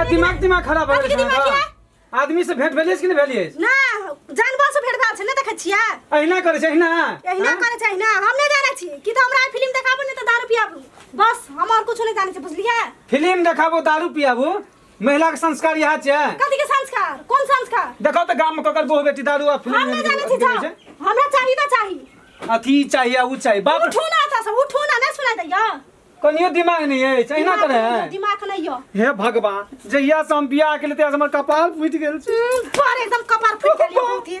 दिमाग दिमाग खराब हो गेल आदमी से भेंट भेलिए कि नहीं भेलिए ना जानवर से भेंट भेल छै ना देखै छियै अहिना करे छै अहिना अहिना हाँ? करे छै अहिना हम नै जानै छी कि त हमरा फिल्म देखाबो नै त दारू पियाबू बस हम और कुछ नै जानै छी बुझलियै फिल्म देखाबो दारू पियाबू महिला के संस्कार यहाँ छे कथी के संस्कार कोन संस्कार देखो तो गांव में ककर बहु बेटी दारू आ फिल्म हम नहीं जाने छी जाओ हमरा चाही ना चाही अथी चाहिए उ चाहिए बाप उठो ना ता सब उठो ना ना सुनाई दैया कनियो दिमाग नहीं है चाहिना करे है दिमाग नहीं यो हे भगवान जहिया से हम बियाह के लेते हमर कपाल फूट गेल छै पर एकदम कपार फूट गेल बहुत ही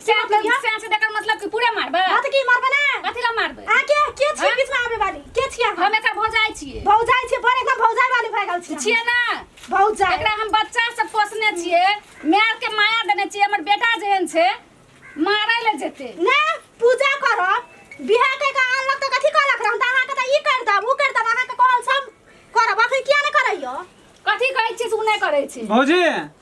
से मतलब मतलब की? से से देकर मतलब कि पूरे मारबे हां त की मारबे ना कथी ला मारबे आ के के छी हाँ? बीच में आवे वाली के छी हम हम एकर भौजाई छिए भौजाई छी पर एकदम भौजाई वाली भए गेल छी छिए ना भौजाई एकरा हम बच्चा से पोसने छिए मार के माया देने छिए हमर बेटा जेहन छे मारै ले जेते ना पूजा करब बिहा के का अनलक त कथी कहलक रहम त अहाँ के त ई कर दब उ कर दब अहाँ के कहल सब करब अखन किया ने करैयो कथी कहै छी सुने करै छी भौजी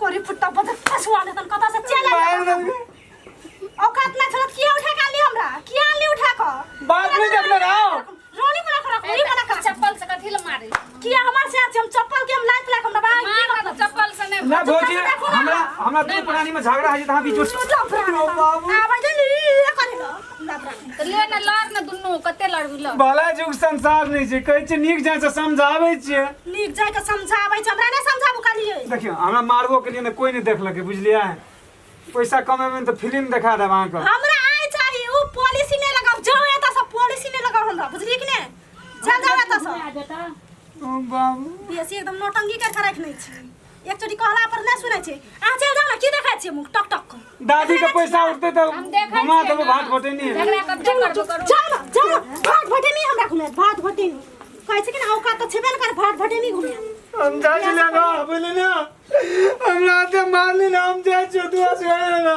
कोरी फुट्टा बजे फसवा दे तन कता से चल आइल औकात ना छलत किया उठा के आली हमरा किया आली उठा के बात नहीं देखले रहो रोनी मना कर कोरी मना कर चप्पल से कथी ले मारे किया हमार से आज हम चप्पल के हम लात लाख हमरा बाहर मार ना तो चप्पल से ने ना भौजी हमरा हमरा दू प्राणी में झगड़ा है जे तहां बीच में बाबू आवाज नहीं करे तऽ ले ने लड़ ने दुनू कते लड़बी लड़ भला जुग संसार नहि छै कहै छै नीक जाय से समझाबै छियै नीक जाय के समझाबै छै हमरा नहि समझाबू करियै देखियौ हमरा मारबो के लिए ने कोई नहि देखलकै बुझलियै पैसा कमेबै ने तऽ फिल्म देखा देब अहाँके हमरा आइ चाही ओ पॉलिसी नहि लगाब जाओ एतऽ से पॉलिसी नहि लगाब हमरा बुझलियै कि नहि चल जाओ एतऽ से बाबू बेसी एकदम नौटंकी कर के रखने छी एक चोटी कहला पर ना सुनै छै आ चल जा ना की देखै छै मुंह टक टक कर दादी के पैसा उठते तो हम देखै घुमा छियै देबो ने। भात घोटे नहीं झगड़ा कब चल ना, करबो करू चल ना, चल ना। भात भटे नहीं हमरा घुमे भात भटे नहीं कहै छै कि ना औकात तो छेबे न कर भात भटे नहीं घुमे हम जा छी ना बोले ना हमरा ते मारली ना हम जा छी दुआ से ना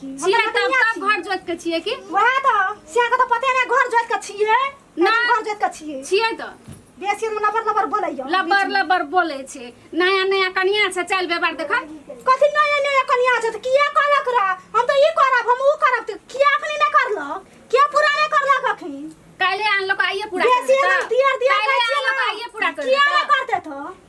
छियै तब तब घर जोत के छियै कि वएह त सिया के त पते नै घर जोत के छियै ना। ना घर जोत के छियै छियै त बेसी हम लबर लबर बोलैयो लबर लबर बोले छै नया नया कनिया से चल बेबार देख कथि नया नया कनिया छै त किया कहलक रा हम त ई करब हम ऊ करब त किया अखनी नै करलक किया पूरा नै करलक अखनी काले आन लोग आइए पूरा कर बेसी देता। हम दियर दियर काल्हे आन लोग आइए पूरा कर किया नै देता। करते त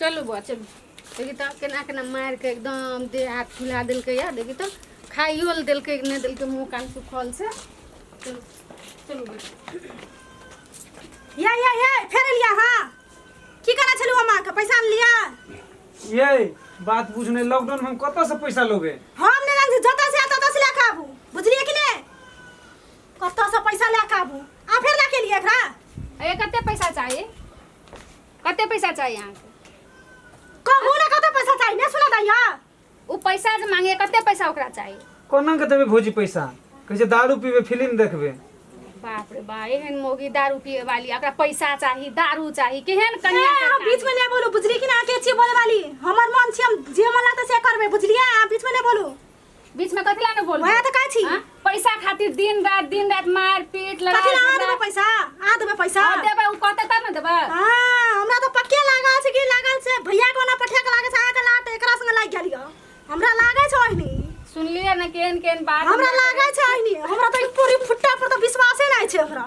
चलू बौआ चलू देखी तऽ केना केना मारि कऽ एकदम देह हाथ फुला देलकै या देखी तऽ खाइयो लए देलकै कि नहि देलकै मुँह कान सुखल से चलू चलू बैठू। या या या फेर एलिया हाँ की करै छलू अम्मा के पैसा लिया ये बात बुझने लॉकडाउन में हम कतऽ से पैसा लोगे हम ने रंग जतऽ से ततऽ से लेके आबू बुझलिए कि ने कतऽ से पैसा लए के आबू आ फेर लए के लिए एकरा अरे कते पैसा चाहिए कते पैसा चाहिए यहाँ से कहू ना कतऽ पैसा चाहिए ने सुना दैया वो पैसा जे मांगे कते पैसा ओकरा चाहिए कोना के देबे भौजी पैसा कहै छै दारू पीबे फिल्म देखबे बाप रे बा एहन मोगी दारू पिए वाली ओकरा पैसा चाही दारू चाही केहन कन्या के आ, बीच में नहीं बोलू बुझली कि ना के छी बोले वाली हमर मन छी हम जे मन लागत से करबे बुझलिए आ बीच में नहीं बोलू बीच में कथी लाने बोल वहाँ तो का छी हाँ? पैसा खातिर दिन रात दिन रात मार पीट लड़ा कथी ला आ देबे पैसा आ देबे पैसा और देबे उ कहते तब ना देबे हाँ हमरा तो पक्के लागल छै कि लागल छै भैया के ओना पठा के लागल छै अहाँ के लाट एकरा संग लागि गेल यऽ हमरा लागल छै ओहिनी सुनलिए ना केन केन बात हमरा लागल छै ओहिनी हमरा तो ई पूरी फुट्टा पर तो विश्वासे नहि छै हमरा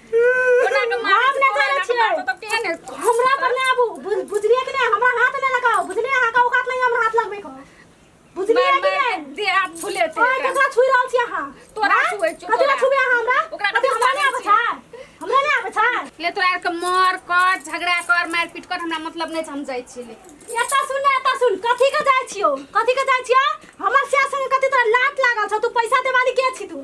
ओना के मार हम नहि करै छियै। तब केहन है हमरा पर नहि आबू बुझ- बुझलियै कि नहि हमरा हाथ नहि लगाओ बुझलियै अहाँके औकात नहि हमरा हाथ लगबै के बुझलियै कि नहि दे हाथ फुले छै ओए ककरा छुइ रहल छी अहाँ तोरा आँय? छुए छौ, ककरा तोरा। छुबे अहाँ हमरा ओकरा अभी ककरा हमरा नहि आबै छुए छै हमरा नहि आबै छै ले तोरा आर के मार कर झगड़ा कर मार पीट कर हमरा मतलब नहि छै हम जाइ छी ले एतऽ सुन ने एतऽ सुन कथी के जाइ छियो कथी के जाइ छियो हमर सिया संगे कथी तोरा लात लागल छौ तू पैसा देवाली के छी तू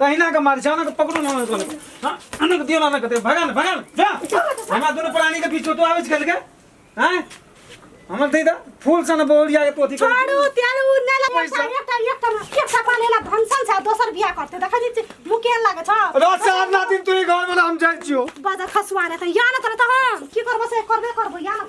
तहिना के मार जाना के पकड़ो ना ना कोने हां अनक दियो ना ना कते भगन भगन जा हमरा दोनों प्राणी के बीच तो आवेज गेल के हैं हमर दे दा फूल सन बोलिया के पोथी कर छोड़ू त्याल उ नै लगा पैसा। सारे एकटा एकटा ना एकटा पालेला भनसन छ दोसर बिया करते देखै छी मुकेल लागे छ रात से आठ ना दिन तू ही घर में ना हम जाई छियो बाजा खसुआ रे त या न तर त हम की करबो से करबे करबो या न